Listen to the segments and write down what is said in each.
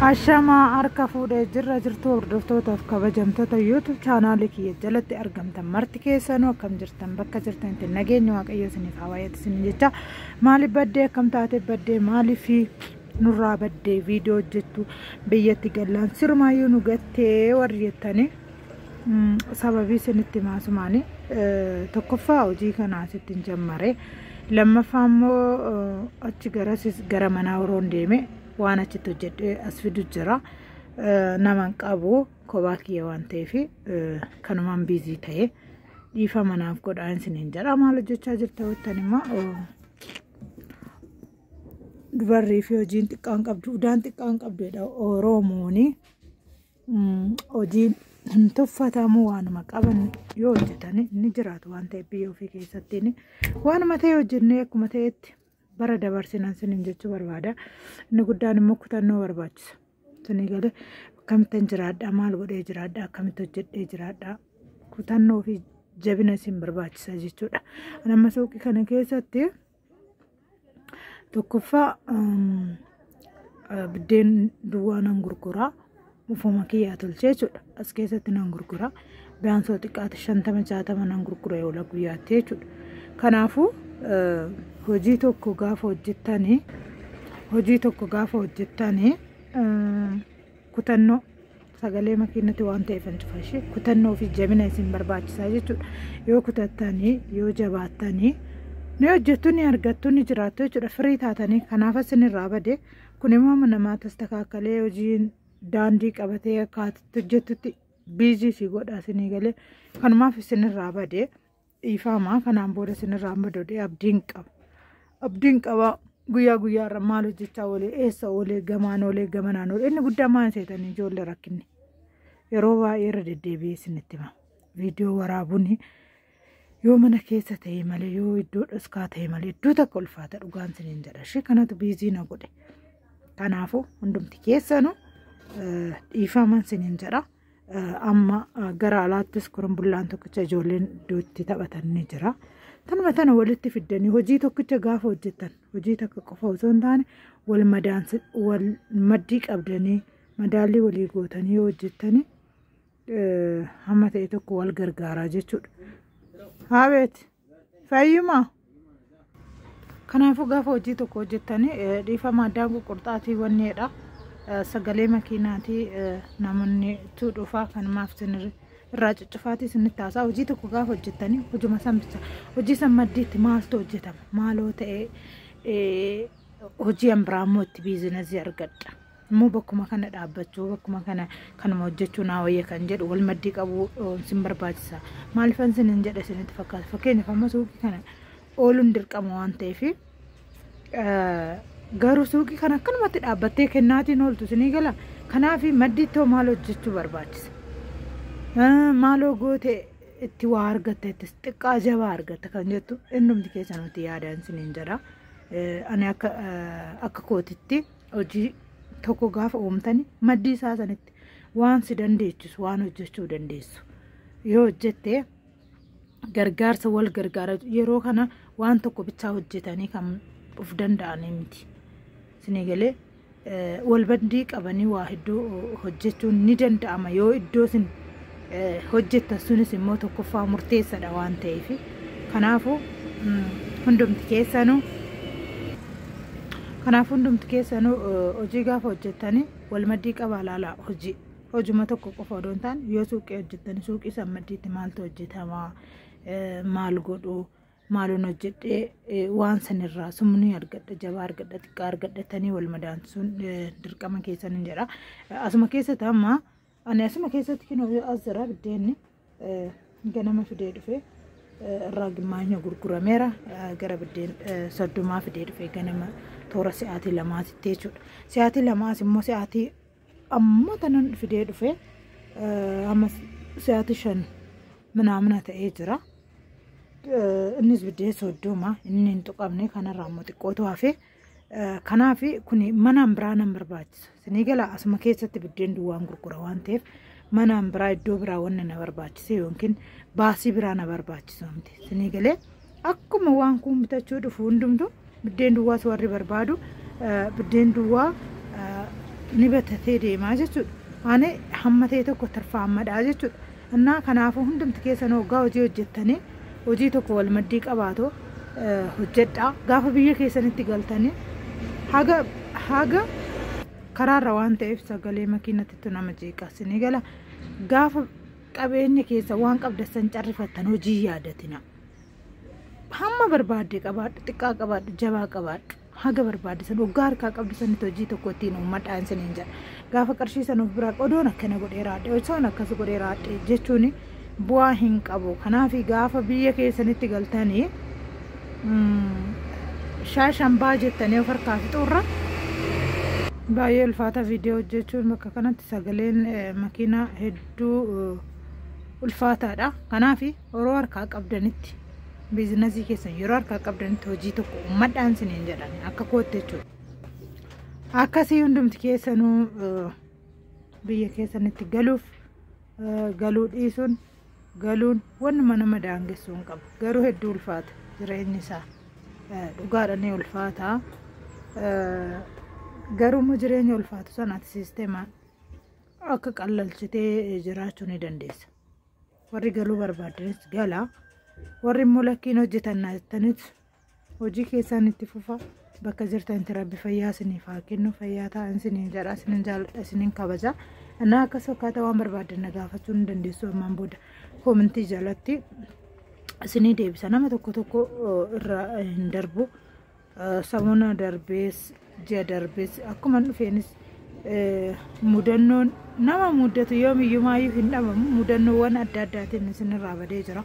Ashamaa harka fuudhee jirra jirtuu hordoftootaaf kabajamtoota YouTube chaanaalii kiyya jalatti argamtan marti keessanuu akkam jirtan bakka jirtanitti nageenya waaqayyoo isiniif haa baay'atu isin jecha maaliif baddee akkam taatee baddee maaliif nurraa baddee viidiyoo hojjettu biyyatti gallaan sirumaayyuu nu gattee warri jettanii sababii isinitti maasumaani tokkoffaa hojii kanaa sittin jammare lammaffaa immoo achi garasis gara manaa horoon deeme waan achitti hojjedhe as fidu jira naman qabu kophaa kiyya waan ta'eef kanumaan biizii ta'e dhiifa manaaf godhaa isiniin jedha maal hojjechaa jirta jettan immoo dubarrii fi hojiin xiqqaan qabdu udaan xiqqaan qabdu jedha oroomooni. Hojii hin tuffatamu waanuma qaban yoo hojjetan ni jiraatu waan ta'eef biyya ofii keessatti waanuma ta'e hojjennee akkuma ta'etti bara dabarsinan sinin jechuu barbaada. Inni guddaan immoo kutannoo barbaachisa. Sinii galee akkamittan jiraadha maal godhee jiraadha akkamitti hojjedhee jiraadha kutannoo fi jabina isin barbaachisa jechuudha. Nama suuqii kana keessatti. tokkoffaa biddeen duwwaa nan gurguraa ufuma kiyyaa tolchee jechuudha as keessatti nan gurguraa biyaansoo xiqqaate shantama jaatama nan gurgura oola guyyaatti jechuudha kanaafuu hojii tokko gaafa hojjettanii hojii tokko gaafa hojjettanii kutannoo sagalee makiinatti waan ta'eefan cufa ishee kutannoo fi jabina isin barbaachisaa jechuudha yoo kutattanii yoo jabaattanii ni hojjettu ni argattu ni jiraattu jechuudha firii taatanii kanaaf isin irraa bade kun immoo amma namaa tastakaakalee hojiin daandii qabatee akkaatitti hojjettutti biizii si godha isinii galee kanumaaf isin irraa bade dhiifaamaa kanaan booda sinirraa amma dodee abdiin qaba abdiin qaba guyyaa guyyaa irra maal hojjechaa oolee eessa oolee gamaan oolee gamanaan oolee inni guddaa maan seetanii ijoollee rakkinne yeroo baay'ee irra deddeebi'ee isinitti hima viidiyoo waraabuun yoo mana keessa ta'e malee yoo iddoo dhoskaa ta'e malee iddoo takka ulfaata dhugaan siniin jedha ishee kanatu biizii na godhe kanaafuu hundumti keessanu dhiifaaman siniin jedha. Amma gara alaattis korumbullaan tokkicha ijoolleen iddootti taphatan ni jira. Tanuma tana walitti fiddanii hojii tokkicha gaafa hojjetan hojii takka qofa osoo hin taane wal madaansi wal maddii qabdanii madaallii walii gootanii yoo hojjettanii hamma ta'e tokko wal gargaaraa jechuudha. Haabeeti. Fayyuma. Kanaafuu gaafa hojii tokko hojjettanii eh, dhiifama addaan ququrxaatii wanneedha. Eh, Sagalee makiinaatii eh, namoonni tu dhufaa kanumaaf sinirri irraa cuccufaatii sinitti haasaa hojii tokko gaafa hojjettanii hojuma san bicha hojii san maddiitti maaltu hojjetama maaloo ta'ee eh, hojii an biraa immoo itti biizinasii argadha. Immoo bakkuma kana dhaabbachuu bakkuma kana kanuma hojjechuu naa wayya kan jedhu wal maddii qabuu sin barbaachisa. Maalifan sin hin jedhe sinitti fakkaata. Fakkeenyaaf amma suuqii kana ooluun dirqama waan ta'eef garuu suuqii kana akkanumatti dhaabbattee kennaatiin ooltu sinii gala. Kanaaf maddii too maal hojjechuu barbaachisa. Maaloo goote itti waa argatta itti xiqqaa jabaa argatta kan jettu innumti keessan nuti yaadaan siniin jedha. Ani akka akka kootitti. hojii tokko gaafa uumtani maddii isaa sanitti waan si dandeechisu waan hojjechuu dandeessu yoo hojjette gargaarsa wal gargaara yeroo kana waan tokko bichaa hojjetanii kan of danda'anii miti isinii galee wal bandii qabanii waa hedduu hojjechuun ni danda'ama yoo iddoo isin hojjettan sunis immoo tokkoffaa murteessadha waan ta'eef kanaafu hundumti keessanu kanaaf hundumti keessanu hojii gaafa hojjettanii wal maddii qabaa laalaa hojii hojuma tokko qofa odoo hin taane yoo suuqii hojjettanii suuqii san maddiitti maaltu hojjetamaa maal godhu maaloon hojjedhee waan sanirraa sumnii argadha jabaa argadha xiqqaa argadhatanii wal madaansuun dirqama keessan hin jedha asuma keessatti amma Ani asuma keessatti kinoo yoo as jira biddeenni ganama fidee dhufe irraa gimmaanya gurgurameera gara biddeen soddomaa fidee dhufe ganama toora si'aatii lamaatitti jechuudha. Si'aatii lamaas immoo si'aatii amma tanan fidee dhufe amma si'aatii shan minaamina ta'ee jira. Innis biddeen soddoma inni hin tuqamne kanarraa immoo xiqqootu hafee. Kanaaf kun manaan biraa nan barbaachisa. Isinii gala asuma keessatti biddeen duwwaan gurgura waan ta'eef manaan biraa iddoo biraa wanna na barbaachise yookiin baasii biraa na barbaachisa miti. Isinii galee akkuma waan kun bitachuu dhufu hundumtu biddeen duwwaas warri barbaadu biddeen duwwaa ni batatee deemaa jechuudha. Ani hamma ta'e tokko tarfaammadhaa jechuudha. Humnaa kanaafuu hundumti keessanuu oggaa hojii hojjettanii hojii tokko wal maddii qabaatu hojjedhaa gaafa biyya keessanitti galtanii haga haga karaarra waan ta'eef sagalee makiinatittu nama jeeqa sinii gala gaafa qabeenya keessa waan qabdassan carrifattan hojii yaadatina hamma barbaadde qabaadhu xiqqaa qabaadhu jabaa qabaadhu Haga barbaadde san oggaa harkaa qabdu sanitti hojii tokko ittiin uummadhaa isiniin jedha. Gaafa qarshii san of biraa odoon akkana godhee raadhe osoon akkas godhee raadhe jechuun bu'aa hin qabu. Kanaaf gaafa biyya keessanitti galtanii shaashan baa jettanii of harkaa fixuurra baay'ee ulfaata viidiyoo hojjechuun bakka kanatti sagaleen makiinaa hedduu ulfaataadha. Kanaaf Yeroo harkaa qabdanitti biizinasii keessan yeroo harkaa qabdanitti hojii tokko uummadhaan siniin jedhan akka kootti jechuudha. Akkasii hundumti keessanuu eh, biyya keessanitti galuuf eh, galuu dhiisuun galuun wannuma nama daangessuu hin qabu. Garuu hedduu ulfaata jireenyi isaa eh, dhugaadha ni ulfaata. Eh, Garuu immoo jireenya ulfaatu sana ati siisteemaan akka qallalchitee jiraachuu ni dandeessa. warri galuu barbaaddanis gala warri immoo lakkiin hojjetannaa jettanis hojii keessaan itti fufa bakka jirtanitti rabbi fayyaa isiniif haa kennu fayyaa ta'an isiniin jedha isiniin jaalladha isiniin kabaja anaa akkas akkaataa waan barbaaddan na gaafachuu ni dandeessu ammaan booda koomentii jalatti isinii deebisa nama tokko tokko irra hin darbu. Samona darbees ji'a darbees akkuma dhufeenis mudannoon nama muddatu yoomiyyumaayyuu hin dhabamu mudannoowwan adda addaatiin isinirraa badee jira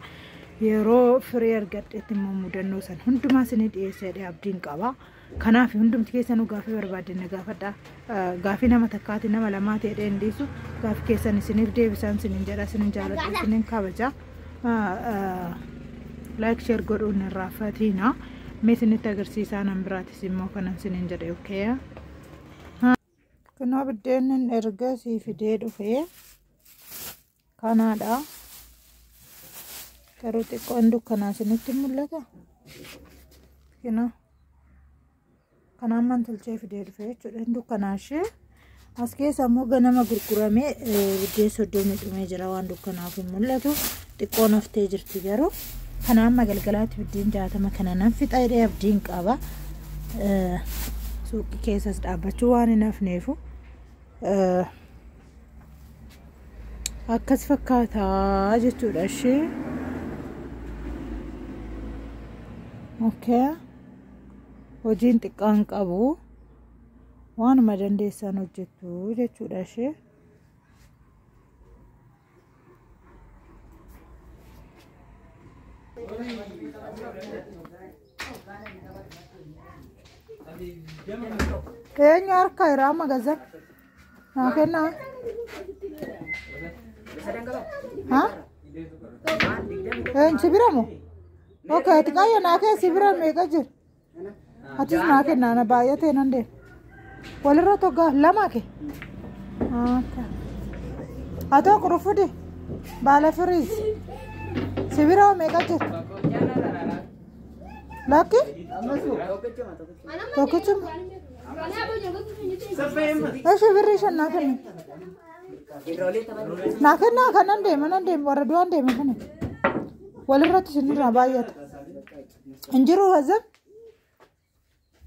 yeroo firii argadhetti immoo mudannoo san hundumaa isinii dhiyeesseedha abdiin qaba kanaaf hundumti keessanuu gaafii barbaaddan na gaafadha Gaafii nama takkaati nama lamaati jedhee hin dhiisu. Gaafii keessan isiniif deebisaan isinin jedha isinin jaaladha isinin kabaja. Like share godhuun irraa fatiina. Mee isinitti agarsiisaa nan biraatis immoo kanan isinin jedhe okay. Kunoo biddeennin erga sii fidee dhufee. kanaadha garuu xiqqoon dukkanaa isinitti mul'ata kina kanaan man tolchee fidee dhufe jechuudha dukkanaa ishee as keessa immoo ganama gurguramee biddeen soddomii dhumee jira waan dukkanaaf hin mul'atu xiqqoon haftee jirti garuu kana amma galgalaatti biddeen jaatama kana nan fixa jedhee abdiin qaba suuqii keessas dhaabbachuu waan hin hafneefu akkas fakkaataa jechuudha ishee okay. hojiin xiqqaan qabu waanuma dandeessan hojjettu jechuudha ishee Eenyu harka irraa magazan? Naa kennaa? Ha? Eenyu si bira moo? Okay, ati qayyoo naa kee si bira meeqa jira? Atis naa kennaa na baay'atee nan deema. Walirra tokko lama kee? Okay. Atoo qurufudi baala firiis si bira meeqa jira? Lakki tokkichuma. Eshi birrii shan naa kenni. Naa kennaa kan nan deema nan deema warra du'aan deema kana. Walirratti isinirraa baay'ata. Hin jiru hazan.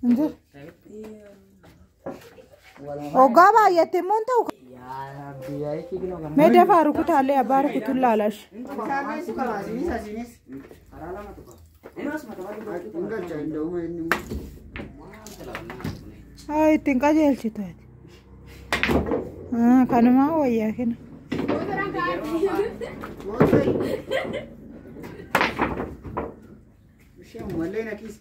Hin jiru. Hoggaa baay'atte immoo hin ta'u. Mee dafaa rukutaallee abbaa rukutuun laalash. Haa ittiin qajeelchitu ati. Ah, Kanumaa wayyaa kenna. Ishee malee na kiisa.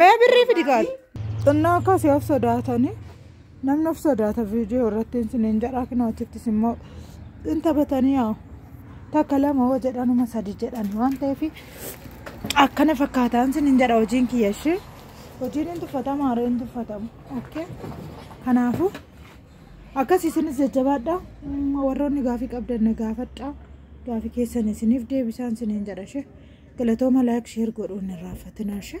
Mee birrii fidi gaal. Xinnoo akkasii of sodaatanii namni of sodaata viidiyoo irratti isiniin jedhaa kinoo achittis immoo hin taphatanii yaa takka lama hoo jedhanuma sadi jedhan waan ta'eef akkana fakkaataan isiniin jedha hojiin kiyya ishee hojiin hin tuffatama haree hin tuffatamu okay kanaafuu Akkas isinis jajjabaadha. Mm, Warroonni gaafii qabdan na gaafadha. Gaafii keessan isiniif deebisaan isiniin jedha ishee. Galatooma laayik sheer godhuun hin raaffatinaa ishee.